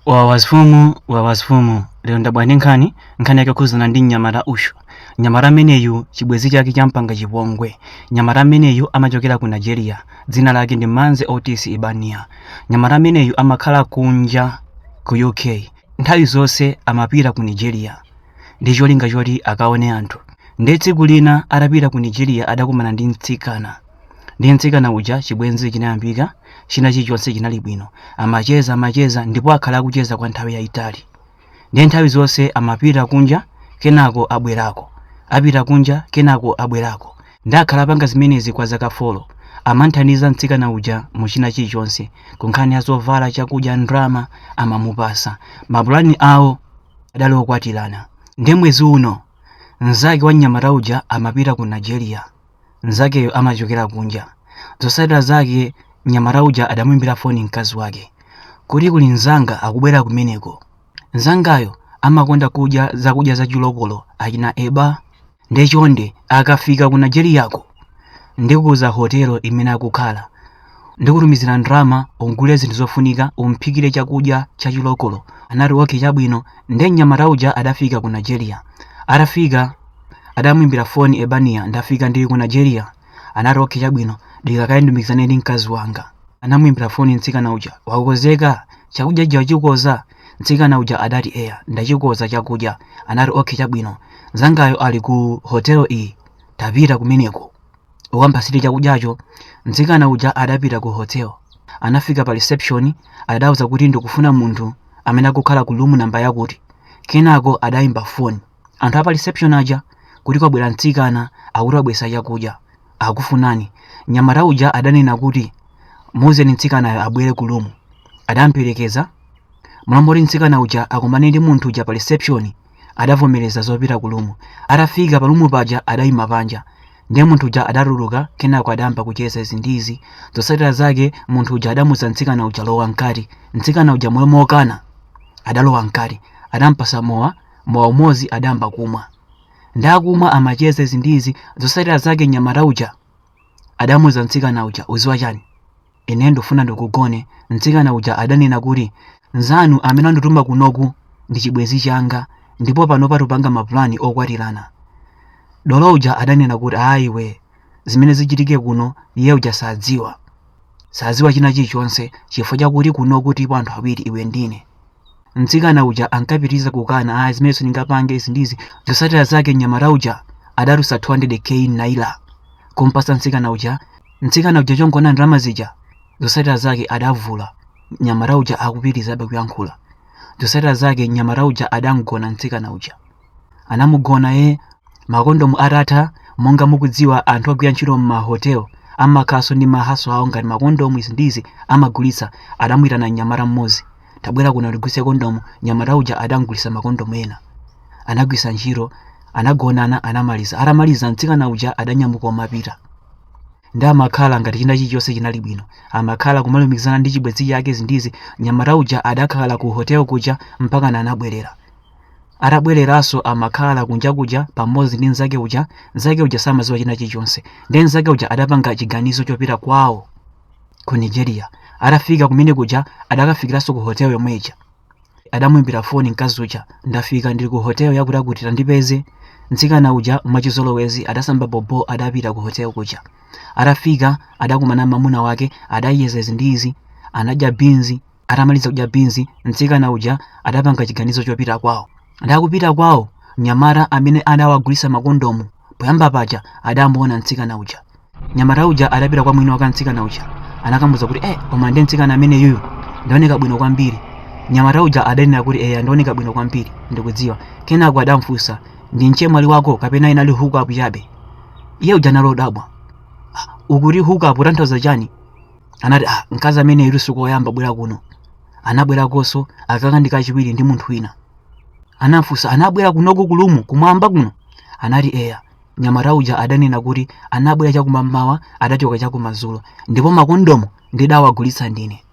wawazfumu wawazfumu lero ndabwera ndi nkhani nkhani yake yokhuzana ndi mnyamata uyu mnyamata ameneyu chibwenzi chake champanga chipongwe mnyamata ameneyu amachokera ku nigeria dzina lake ndi manze otis ibania mnyamata ameneyu amakhala kunja ku uk nthawi zonse amapita ku nigeria ndi cholinga choti akaone anthu ndiye tsiku lina atapita ku nigeria adakumana ndi mtsikana ndiye mtsikana uja chibwenzi chinayambika china chilichonse chinali bwino amacheza amacheza ndipo akhala akucheza kwa nthawi yayitali ndiye nthawi zonse amapita kunja kenako abwerako apita kunja kenako abwerako ndiye akhala apanga zimenezi kwa zaka folo amanthandiza mtsikana uja mu china chilichonse kunkhani ya zovala chakudya ndrama amamupasa mapulani awo adali okwatirana ndiye mwezi uno mnzake wa mnyamata uja amapita ku nigeria mnzakeyo amachokera kunja. Zotsatira zake mnyamata uja adamuimbira foni mkazi wake kuti kuli mnzanga akubwera kumeneko. Mnzangayo amakonda kudya zakudya za chilokolo achina eba nde chonde akafika ku Nigeriyako ndikuuza hotelo imene akukhala. Ndikutumizira ndrama ugule zinthu zofunika umphikire chakudya cha chilokolo. Anati, Okay chabwino. Nde mnyamata uja adafika ku Nigeria. Atafika adamuimbira foni Ebaniya, ndafika ndili ku Nigeria. Anati, Okay chabwino. Dikira kaye ndilumikizane ndi mkazi wanga. Anamuimbira foni mtsikana uja. Wakonzeka? Chakudya chija wachikoza? Mtsikana uja adati, Eya, ndachikoza chakudya. Anati, Okay chabwino. Mzangayo ali ku hotelo iyi. Upite kumeneko. ukampasire chakudyacho mtsikana uja adapita ku hotel anafika pa reception adauza kuti ndikufuna munthu amene akukhala ku room namba yakuti kenako adayimba foni anthu apa reception aja kuti kwabwera mtsikana akuti wabwesa chakudya akufunani nyamata uja adanena kuti muuzeni mtsikanayo abwere ku room adamperekeza m'malo moti mtsikana uja akumane ndi munthu uja pa reception adavomereza zopita ku lumu atafika pa lumu paja adayima panja ndiye munthu uja adatuluka kenako adayamba kucheza izi ndi izi zotsatira zake munthu uja adamuza mtsikana uja lowa mkati mtsikana uja m'malo mokana adalowa mkati adampasa mowa mowa umodzi adayamba kumwa ndi akumwa amacheza izi ndi izi zotsatira zake nyamata uja adamuza mtsikana uja uziwa chani Ine ndufuna ndikugone, mtsikana uja adanena kuti, Mnzanu amene andituma kunoku ndi chibwenzi changa ndipo panopa tupanga mapulani okwatirana. Dolo uja adanena kuti, Ayi iwe, zimene zichitike kuno iye uja sadziwa. Sadziwa china chilichonse chifukwa chakuti kunoku tilipo anthu awiri iwe ndine. Mtsikana uja ankapitiriza kukana, ayi zimene sindingapange izi ndi izi. Zotsatira zake mnyamata uja adatulutsa 200k naira kumpasa mtsikana uja mtsikana uja chongoona ndalama zija zotsatira zake adavula mnyamata uja akupitirizabe kuyankhula zotsatira zake mnyamata uja adamgona mtsikana uja anamugona eh makondomu atatha monga mukudziwa anthu agwira ntchito m'mahotel amakhalanso ndi mahaso awo ngati makondomu izi ndizi amagulitsa adamuyitana mnyamata mmodzi tabwera kuno undigulitse kondomu nyamata uja adamgulitsa makondomu ena anagwiritsa ntchito anagonana anamaliza atamaliza mtsikana uja adanyamuka umapita ndiye amakhala ngati china chilichonse chinali bwino amakhala kumalumikizana ndi chibwenzi chake izi ndizi nyamata uja adakhala ku hotel kuja mpaka anabwerera atabwereranso amakhala kunja kuja pamodzi ndi mnzake uja mnzake uja samadziwa china chilichonse ndiye mnzake uja adapanga chiganizo chopita kwawo ku nigeria atafika kumene kuja adakafikiranso ku hotel yomwe ija adamuimbira foni mkazi uja ndafika ndili ku hotel yakutiyakuti tandipeze mtsikana uja mwachizolowezi adasamba bobo adapita ku hotel kuja atafika adakumana mamuna wake adayeza izi ndi izi anadya binzi Atamaliza kudya binzi, mtsikana uja adapanga chiganizo chopita kwawo. Nde akupita kwawo, mnyamata amene adawagulitsa makondomu poyamba paja adamuona mtsikana uja. Mnyamata uja adapita kwa mwini wake wa mtsikana uja, anakamuuza kuti eh, koma ndi mtsikana amene uyu ndiooneka bwino kwambiri. Mnyamata uja adanena kuti eya, ndiooneka bwino kwambiri, ndikudziwa. Kenako adamfunsa ndi mchemwali wako kapena inali hookup chabe? Iye uja anali odabwa. "Ah, Ukuti hookup utanthauza chani? anati ah, mkazi ameneyu sikoyamba kubwera kuno anabwerakonso aka ka ndi kachiwiri ndi munthu wina anamfunsa anabwera kunoku kulumu kumwamba kuno anati eya nyamata uja adanena kuti anabwera chakumammawa adachoka chakumadzulo ndipo makondomu ndidawagulitsa ndine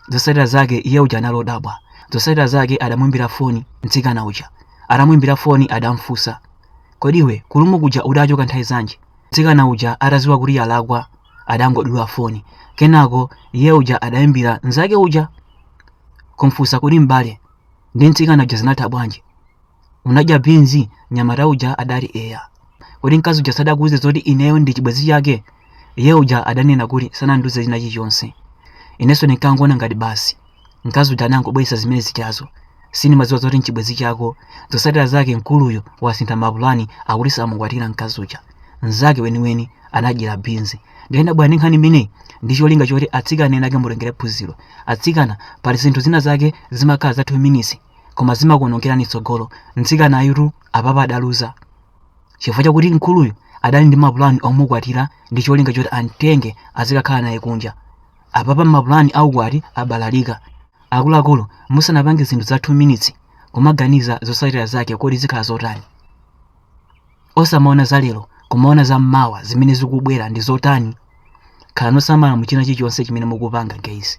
zotsatira zake iye uja anali odabwa zotsatira zake adamwimbira foni mtsikana uja atamwimbira foni adamfunsa kodi iwe kulumu kuja udachoka nthawi zanji mtsikana uja atadziwa kuti yalakwa adangodula foni kenako iye uja adayimbira nzake uja kumfunsa kuti m'bale ndi mtsikana uja zinatha bwanji unadya binzi nyamata uja adati eya kodi mkazi uja sadakuuze zoti ineyo ndi chibwenzi chake iye uja adanena kuti sanandiuze china chilichonse inenso ndinkangoona ngati basi mkazi uja anangobweresa zimene zijazo sindimadziwa zoti nchibwenzi chako zosatira zake mkuluyo wasintha mapulani akuti samukwatira mkazi uja mnzake weniweni anamdyera binzi ndiye ndabwera ndi nkhani imeneyi ndi cholinga choti atsikana ena ake mutengerepo phunziro atsikana pali zinthu zina zake zimakhala za 2 minutes koma zimakuonongerani tsogolo mtsikana uyutu apapa adaluza chifukwa chakuti mkuluyo adali ndi mapulani omukwatira ndi cholinga choti amtenge azikakhala naye kunja Apapa mapulani a ukwati abalalika. Akuluakulu, musanapange zinthu za 2 minutes, kumaganiza zotsatira zake kodi zikhala zotani. Osamaona za lero, kumaona za mmawa zimene zikubwera ndi zotani. Khalani osamala mu china chilichonse chimene mukupanga guys.